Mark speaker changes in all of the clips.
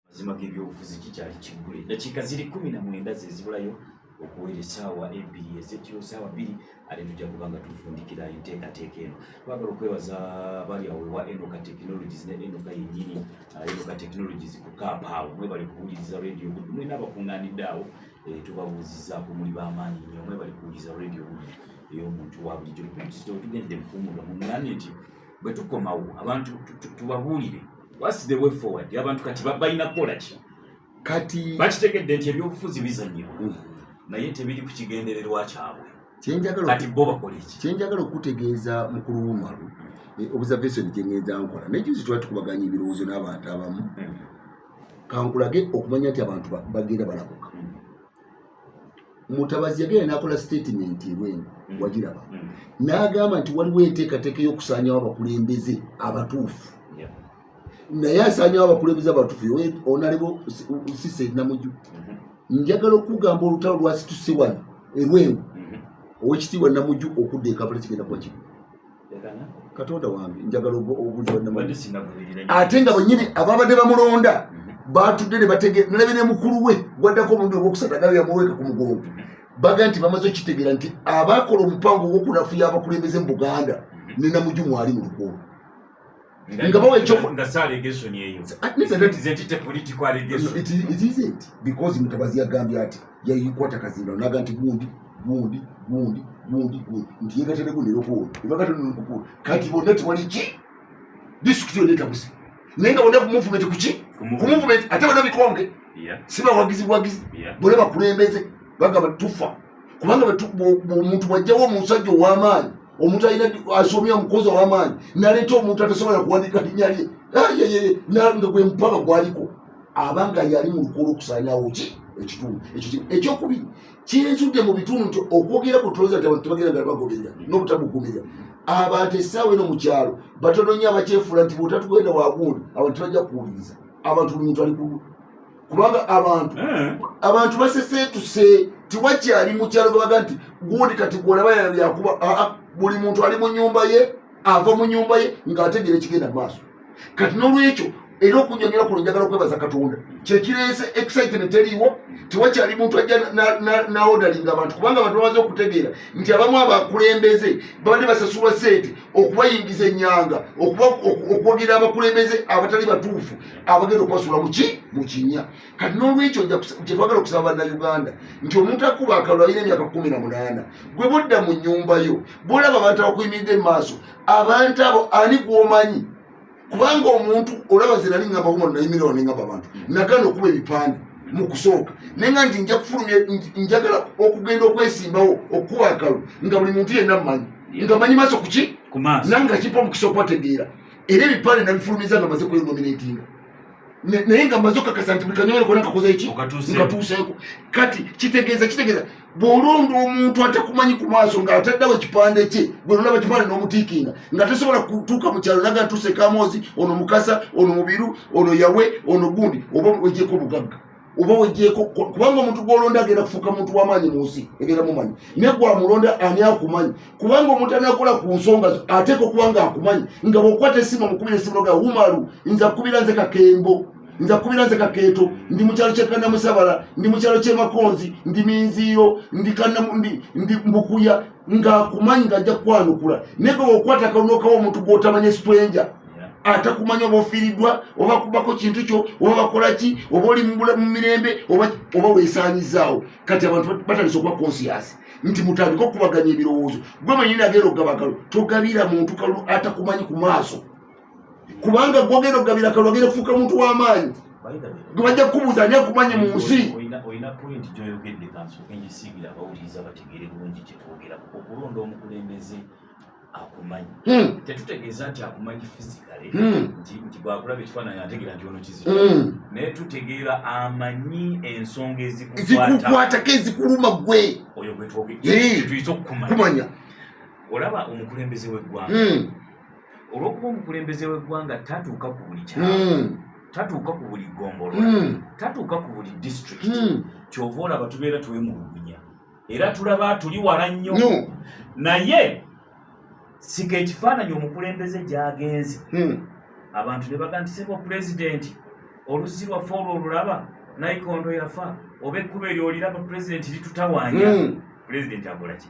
Speaker 1: mazima g'ebyobufuzi kikyali kiggule eddakiika ziri kumi na mwenda ze zibulayo okuwera esaawa ebbiri ezekiro saawa bbiri ate tujja kuba nga tufundikira enteekateeka eno twagala okwebaza bali awo ewa enoka technologies ne enoka yennyini ah, enoka technologies ku kaapa awo mwebali kuwuliriza radio gudu mwena abakuŋŋaanidde awo eh, tubabuuzizaako muli b'amaanyi nnyo mwebali kuwuliriza radio gudu ey'omuntu wa bulijjo tugendde mukuumuga muŋŋaani nti bwe tukomawo abantu tubabuulire What's the way forward? Abantu kati babalina kukola ki? Kati
Speaker 2: bakitegedde nti
Speaker 1: ebyobufuzi bizannyibwa mm. naye tebiri ku kigendererwa kyabwe. Kati bo bakola ki? Kye njagala okukutegeeza
Speaker 2: mukulu Umaru mm. eh, observation gye ngenda nkola naye juzi twali tukubaganya ebirowoozo n'abantu abamu mm. kankulage okumanya nti abantu bagenda balabuka. mutabazi yagenda nakola statement ebwenu mm. wagiraba mm. nagamba nti waliwo enteekateeka y'okusaanyawo abakulembeze abatuufu naye asaanyawo abakulembeze abatuufu onalebo sise namuju mm-hmm. njagala okugamba olutalo lwasituse wano erwengu mm-hmm. owekitiibwa namuju okudda ekapala kigenda kuba kimu katonda wange njagala ate nga bwenyini ababadde bamulonda mhm. batudde nebategenalabe ne mukulu we gwaddako omuntu ogwokusatu agabe yamuweeka ku mugongo baga nti bamaze okitegeera nti abaakola omupango ogwokunafuya abakulembeze mu buganda mhm. nenamuju mwali mu lukuulu nga bawa
Speaker 1: ekyokukola
Speaker 2: because mutabazi yagambye ati yayikwata kazinda naga nti gundi gundi gundi gundi gundi nti yegatereko nerokoolo ebagatenerokoolo kati bonna tewali ki disitulikiti yonna etabuse naye nga bonna kumuvumenti kuki kumuvumenti ate bonna bikonge si bawagizi buwagizi bonna bakulembeze bagamba tufa kubanga omuntu bwajjawo omusajja ow'amaanyi omuntu alina asomye omukozi owamaanyi naleeta omuntu atasobola kuwandika linya lye nga gwe mupaka gwaliko abanga yali mu lukolo okusanyawo ki ekitundu ekyokubiri kyenzudde mu bitundu nti okwogera ku toloza nti abantu tebagenda nga bagoberera n'obutamugumirira abantu essaawa eno mu kyalo batono nnyo abakyefuula nti bwotatugenda wagundi abantu tebajja kuwuliriza abantu buli muntu ali ku kubanga abantu eh. abantu baseseetuse tiwakyali mukyalo gabaga nti gundi kati gwolaba yakuba ah, ah, buli muntu ali mu nyumba ye ava mu nyumba ye ng'ategeera ekigenda mu maaso kati n'olwekyo era okunyonyola kuno njagala okwebaza katonda kyekireese excitement eriiwo tewakyali muntu ajja naodalinga abantu kubanga abantu bamaze okutegeera nti abamu abakulembeze babadde basasulwa sente okubayingiza enyanga okwogera abakulembeze abatali batuufu abagenda okubasuula muki mukinya kati n'olwekyo kyetwagala okusaba bannayuganda nti omuntu akuba akalulu alina emyaka kumi na munaana gwe budda mu nyumba yo bwolaba abantu abakuyimiridde mu maaso abantu abo ani gwomanyi kubanga omuntu olaba zinali ngamba kumu nayimirao nengamba abantu nagana okuba ebipande mu kusooka naye nga nti nja kufulumya njagala okugenda okwesimbawo okukuba akalulu nga buli muntu yenna mumanyi nga manyi maaso kuki nanga kipa omukisa okwategeera era ebipande nabifulumiza nga maze kwenominatinga naye nga maze okakasa nti buli kanyomero kona kakoze eki nkatuuseeko kati kitegeeza kitegeeza bw'olonda omuntu atakumanyi ku maaso ng'ataddawo ekipande kye gwe nolaba kipande n'omutiikinga nga tasobola kutuuka mu kyalo naga ntuuse kamoozi ono mukasa ono mubiru ono yawe ono gundi oba ogyeko obugagga oba wejeko kubanga omuntu gwolonda agenda kufuuka muntu wamaanyi mu nsi egenda mumanyi naye gwamulonda ani akumanyi kubanga omuntu anakola ku nsonga zo ateeka okubanga akumanyi nga bwokwata esimu omukubira esimu noga wumalu nza kukubira nze kakembo nza kukubira nze kakeeto ndi mukyalo kyekanamusabala ndi mukyalo kyemakonzi ndi minziiro ndi mbukuya ngaakumanyi nga ajja kukwanukula naye gwe bwokwata kalunokawo omuntu gwotamanya esitwenja atakumanya oba ofiiriddwa oba kubako kintu kyo oba bakola ki oba oli mu mirembe oba weesaanyizaawo kati abantu batandisa okuba konsiyasi nti mutandika okubaganya ebirowoozo gwe manyini ageera okugaba kalo togabira muntu kalu atakumanyi ku maaso kubanga gwogeera okugabira kalu ageera okufuuka muntu w'amaanyi gwe bajja kukubuuza ani akumanyi mu nsi olina pointi
Speaker 1: gyoyogedde kanso enjisiibira abawuliriza bategeere bulungi kyetwogera okulonda omukulembeze akumanyi hmm. tetutegeeza nti akumanyi fisikale hmm. nti bwakulaba ekifaananyi ategeera nti ono kizito hmm. naye tutegeera amanyi ensonga ezikukwatako ezikuluma gwe oyo gwetwogeyituyita okukumanya olaba omukulembeze w'eggwanga olwokuba omukulembeze w'eggwanga tatuuka ku buli kyalo tatuuka ku buli ggombolo tatuuka ku buli disitulikiti kyova olaba tubeera twemulugunya era tulaba tuli wala nnyo naye sika ekifaananyi omukulembeze gyagenze hmm. abantu ne baga nti sebo pulezidenti oluzzi lwaffe olwo olulaba naikondo yafa oba ekkuba eryoliraba pulezidenti litutawanya hmm. pulezidenti akolaki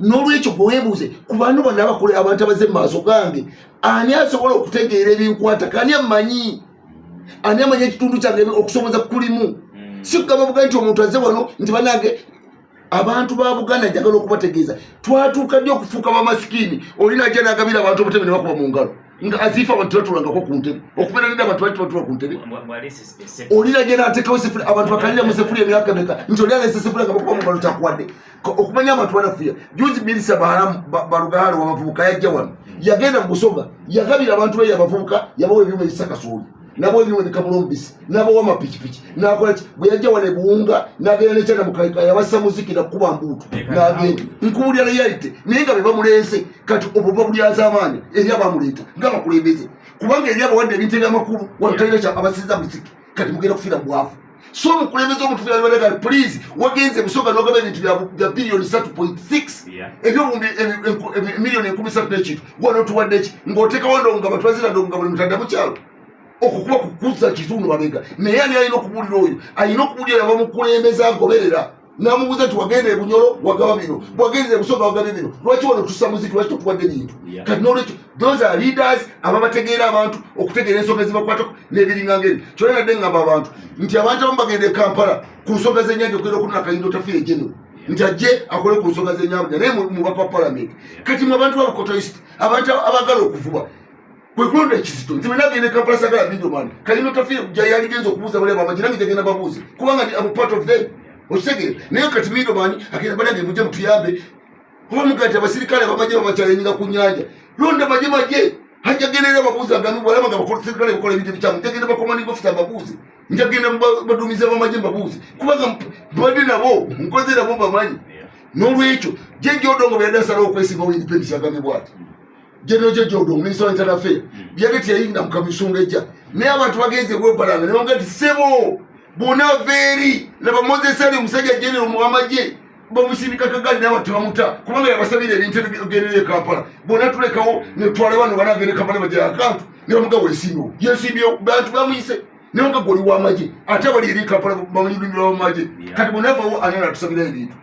Speaker 2: n'olwekyo gweweebuuze ku bantu bano abakulu abantu abaze maaso gange ani asobola okutegeera ebinkwata kani amanyi ani amanyi ekitundu kyange okusoboza kulimu hmm. sikugamba buga nti omuntu aze wano nti banange abantu ba buganda njagala okubategeeza twatuuka ddi okufuuka bamasikiini oli naja nagabira abantu obutebe ne bakuba mu ngalo nga aziifa abantu tebatulangako ku ntebe okubeera neda abantu bali tebatula ku ntebe oli naja natekawo abantu bakaliramu sefuli emyaka meka nti oli alesa sefuli nga bakuba mu ngalo kyakuwadde okumanya abantu banafuya juzi mirisa baharamu balugalo wabavubuka yajja wano yagenda mubusoga yagabira abantu be yabavubuka yabawa ebyuma ebisa kasooli nabawa ebyuma ebikabula omubisi nabawa amapikipiki nakolaki bwe yajja wano ebuwunga nagenda nekyana mukaika yabassa muziki nakukuba mbuutu nagenda nkuwulira reality naye nga bebamuleese kati obwo babulyaza amaanyi eri abamuleeta nga bakulembeze kubanga eri abawadde ebintu ebyamakulu wano talina kyabasiza muziki kati mugenda kufiira mubwavu so omukulembeze omutufira libadagala please wagenze musooka nogaba ebintu bya biliyoni satu point six ebyobundi emiliyoni enkumi satu nekintu wano tuwadde ki ng'otekawo ndonga batwazira ndonga buli mutadda mukyalo okukuba kukuza kitundu babega naye ani alina okubuulira oyo alina okubuulira yabamukulembeza agoberera namubuuza nti wagenda ebunyolo wagaba bino bwagenda ebusonga wagabye bino lwaki wano tusa muziki lwaki totuwadde bintu kati nolwekyo those are leaders ababategeera abantu okutegeera ensonga ezibakwatako n'ebiringanga ebyo kyona nadde ngamba abantu nti abantu abamu bagenda e kampala ku nsonga z'enyanja okugenda okunona kayindo tafiire genero nti ajje akole ku nsonga z'enyanja naye mubaka wa palamenti kati mu abantu babukotoist abantu abagala okuvuba kwekulonda ekizito nze benagenda kampala sagala middleman kalino tafiire kuja yaligenza okubuuza bali abamaji nange jagenda babuuze kubanga ndi am part of them okitegere naye kati middleman agenda banange muje mutuyambe oba mugati abasirikale abamaje bamacayinga ku nyanja londa maje maje hajagenera babuuze agami bwalaba nga basirikale bakola ebintu ebikyamu njagenda bakomaninga ofisa babuuze njagenda badumiza bamaje babuuze kubanga mbadde nabo nkoze nabo bamanyi n'olwekyo jejodongo beyadasalawo okwesimbawo independence agami bwati General Jeje Odong, Minister of Internal Affairs, hmm. byali teyayingira mu kamisonga ejja naye abantu bagenze kwebalanga ne bamugamba nti ssebo bona veeri laba Moses Ali omusajja genero mu amagye bamusindika kagali naye abantu bamuta kubanga yabasabira ebintu ebigenera e Kampala bona tulekawo ne twala bano banagenda e Kampala bajja akantu ne bamugamba wesimbewo yesimbewo bantu bamuyise naye nga goli w'amagye ate abali eri e Kampala bamunyumirwa w'amagye kati bona avawo anena tusabira ebintu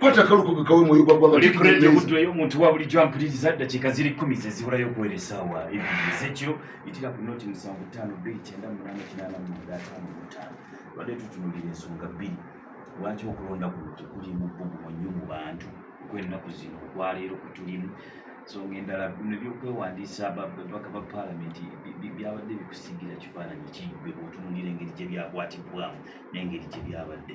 Speaker 2: kwata kaluko bikawe mwoyo gwa gwanga oli kurende mutwe yo muntu
Speaker 1: wa buli jump lili za dakika ziri 10 ze zibura yo kuweleza wa ibi zekyo itira ku noti musango tano bili kyenda munana kinana mu data mu tano bade tutunulira ensonga bili wati okulonda ku noti kuli mu bubu mu nyumu bantu kwenda kuzino kwa lero kutulimu so ngendala bino byokwewandisa babaka ba parliament byabadde bikusigira kifaananyi kibwe otunulira engeri gye byakwatibwamu n'engeri gye byabadde